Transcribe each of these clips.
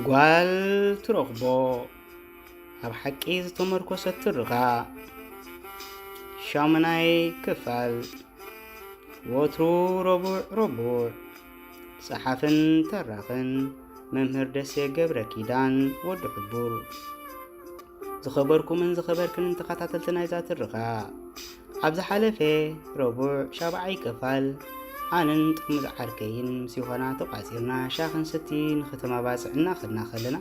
ጓል ትረኽቦ ኣብ ሓቂ ዝተመርኮሰ ትርኻ ሻሙናይ ክፋል ወትሩ ረቡዕ ረቡዕ ጸሓፍን ተራኽን መምህር ደሴ ገብረ ኪዳን ወዲ ሕቡር ዝኸበርኩምን ዝኸበርክንን ተኸታተልቲ ናይዛ ትርኻ ኣብ ዝሓለፈ ረቡዕ ሻብዓይ ክፋል ኣንን ጥርሙዝ ዓርከይን ምስ ይኾና ተቋጺርና ሻኽን ስቲ ንክተመባጽዕ እናኸድና ከለና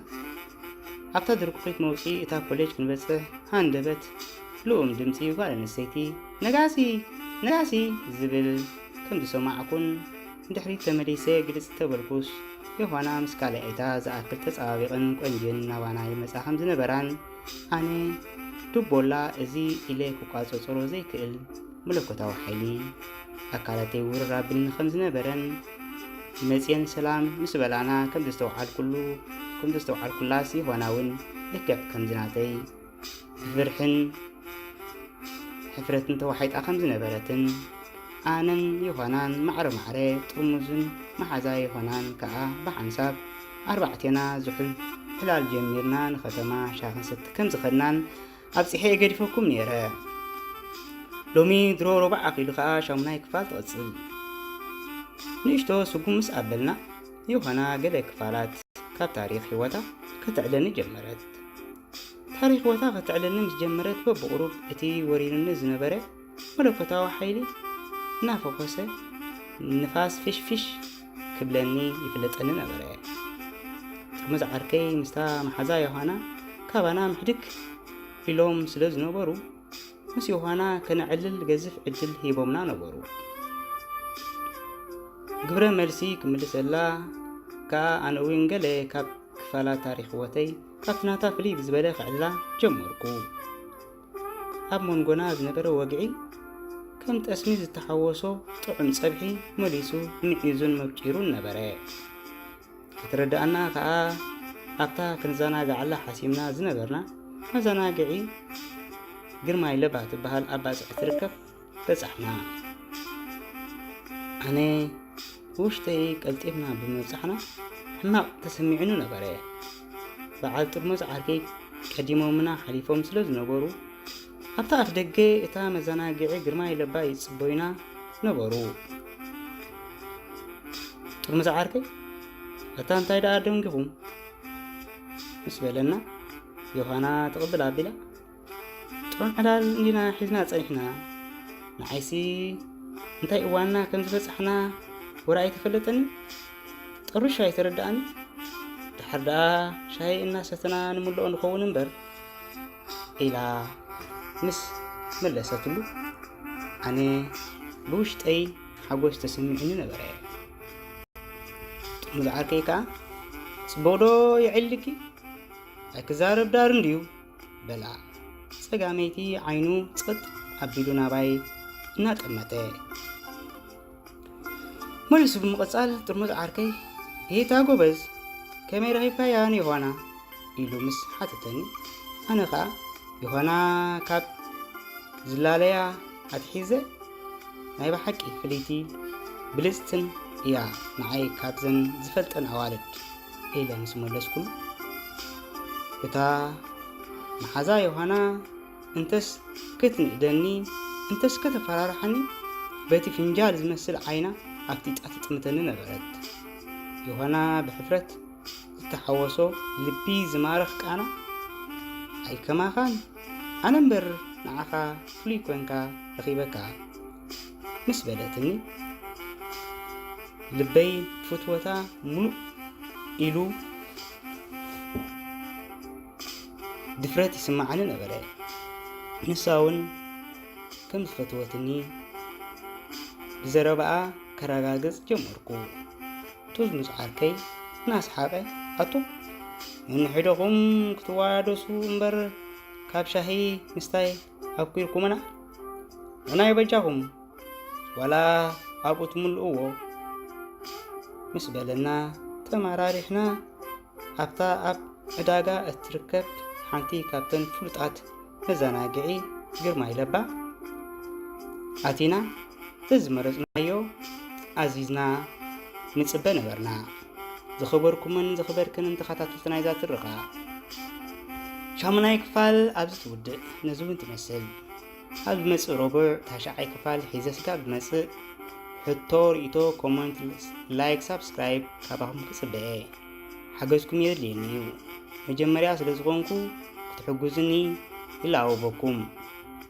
ኣብታ ድርኩኺት መውፂ እታ ኮሌጅ ክንበጽሕ ሃንደበት ልኡም ድምፂ ጓል ኣንስተይቲ ነጋሲ ነጋሲ ዝብል ከም ዝሰማዕኩን ንድሕሪት ተመሊሰ ግልጽ ዝተበልኩስ፣ ዮሃና ምስ ካልኣይታ ዝኣክል ተጸባቢቕን ቆንጅን ናባና ይመጻ ከም ዝነበራን፣ ኣነ ዱቦላ እዚ ኢለ ክቋጸጸሮ ዘይክእል መለኮታዊ ሓይሊ፣ ኣካላተይ ውርር ኣብልኒ ከም ዝነበረን፣ መጽየን ሰላም ምስ በላና ከም ዘስተውዓልኩሉ ከም ዘስተውዓልኩላስ ዮሃና እውን ልክዕ ከምዚ ናተይ ብፍርሕን ሕፍረትን ተዋሒጣ ከም ዝነበረትን ኣነን ዮሃናን ማዕረ ማዕረ ጥርሙዝን መሓዛ ዮሃናን ከኣ ብሓንሳብ ኣርባዕቴና ዝሑል ዕላል ጀሚርና ንኸተማ ሻ ክንሰቲ ከም ዝኸድናን ኣብፂሐ የገዲፈኩም ነይረ ሎሚ ድሮ ሮባዕ ኣኺሉ ከኣ ሻሙናይ ክፋል ትቕፅል ንእሽቶ ስጉም ምስ ኣበልና ዮሃና ገለ ክፋላት ካብ ታሪክ ህይወታ ከተዕለኒ ጀመረት ታሪኽዎታ ከተዕልልኒ ምስ ጀመረት በብቑሩብ እቲ ወሪሩኒ ዝነበረ መለኮታዊ ሓይሊ እናፈኾሰ ንፋስ ፊሽፊሽ ክብለኒ ይፍለጠኒ ነበረ። ጥርሙዝ ዓርከይ ምስታ መሓዛ ዮሃና ካባና ምሕድግ ኢሎም ስለ ዝነበሩ ምስ ዮሃና ከነዕልል ገዝፍ ዕድል ሂቦምና ነበሩ። ግብረ መልሲ ክምልሰላ ከኣ ኣነ እውን ገለ ካብ ክፋላት ታሪኽ ህይወተይ ካብ ናታ ፍልይ ብዝበለ ክዕልላ ጀመርኩ። ኣብ መንጎና ዝነበረ ወግዒ ከም ጠስሚ ዝተሓወሶ ጥዑም ጸብሒ መሊሱ ምዒዙን መብጪሩን ነበረ። ክትረዳኣና ከኣ ኣብታ ክንዘናግዓላ ሓሲምና ዝነበርና መዘናግዒ ግርማይ ለባ ትበሃል ኣባጽዕ ትርከብ በጻሕና። ኣነ ብውሽጠይ ቀልጢፍና ብምብጻሕና ሕማቕ ተሰሚዑኒ ነበረ። በዓል ጥርሙዝ ዓርከይ ቀዲሞምና ሓሊፎም ስለ ዝነበሩ ኣብታ ኣፍ ደገ እታ መዘናግዒ ግርማይ ለባ ይጽበዩና ነበሩ። ጥርሙዝ ዓርከይ ኣታ እንታይ ደኣ ደንጊኹም ምስ በለና ዮሃና ትቕብል ኣቢላ ጥዑም ዕላል እንዲና ሒዝና ጸኒሕና ንዓይሲ እንታይ እዋንና ከም ዝበጻሕና ወረ ኣይተፈለጠኒ ጠሩሻ ኣይተረዳእኒ ድሓር ደኣ ሻሂ እናሰተና ንምልኦ ንኸውን እምበር ኢላ ምስ መለሰትሉ ኣነ ብውሽጠይ ሓጎስ ተሰሚዕኒ ነበረ ጥሙሉ ዓርከይ ከዓ ጽቡቕዶ የዕልኪ ኣይክዛረብ ዳር እንድዩ በላ ጸጋመይቲ ዓይኑ ጸጥ ኣቢሉ ናባይ እናጠመተ መሊሱ ብምቕጻል ጥርሙዝ ዓርከይ ይሄታ ጎበዝ ከመይ ረኺብካያ ንዮሃና ኢሉ ምስ ሓተተኒ ኣነ ኸኣ ዮሃና ካብ ዝላለያ ኣትሒዘ ናይ ብሓቂ ፍልይቲ ብልጽትን እያ ንዓይ ካብዘን ዝፈልጠን ኣዋልድ ኢለ ምስ መለስኩሉ፣ እታ መሓዛ ዮሃና እንተስ ክትንእደኒ እንተስ ከተፈራርሓኒ በቲ ፍንጃል ዝመስል ዓይና ኣፍጢጣ ትጥምተኒ ነበረት። ዮሃና ብሕፍረት ዝተሓወሶ ልቢ ዝማርኽ ቃና፣ ኣይከማኻን ኣነ እምበር ንዓኻ ፍሉይ ኮንካ ረኺበካ። ምስ በለትኒ ልበይ ፍትወታ ሙሉእ ኢሉ ድፍረት ይስምዓኒ ነበረ። ንሳ እውን ከም ዝፈትወትኒ ብዘረባኣ ከረጋግጽ ጀመርኩ። ጡዝ ምስ ዓርከይ እናስሓቐ ኣቶ ነንሕደኹም ክትዋደሱ እምበር ካብ ሻሂ ምስታይ ኣኩርኩምና ንናይ በጃኹም ዋላ ኣብኡ ትምልእዎ ምስ በለና ተመራሪሕና ኣብታ ኣብ ዕዳጋ እትርከብ ሓንቲ ካብተን ፍሉጣት መዘናግዒ ግርማይ ለባ ኣቲና እዚ መረፅናዮ ኣዚዝና ንፅበ ነበርና። ዝኸበርኩምን ዝኸበርክንን ተኸታተልቲ ናይዛ ትረኻ ሻሙናይ ክፋል ኣብዚ ትውድእ ነዚ እውን ትመስል ኣብ ዝመፅእ ረቡዕ ታሽዓይ ክፋል ሒዘ ስጋዕ ብመፅእ ሕቶ ርእቶ ኮመንት ላይክ ሳብስክራይብ ካባኹም ክፅበአ ሓገዝኩም የድልየኒ እዩ መጀመርያ ስለ ዝኾንኩ ክትሕግዙኒ ይለኣወበኩም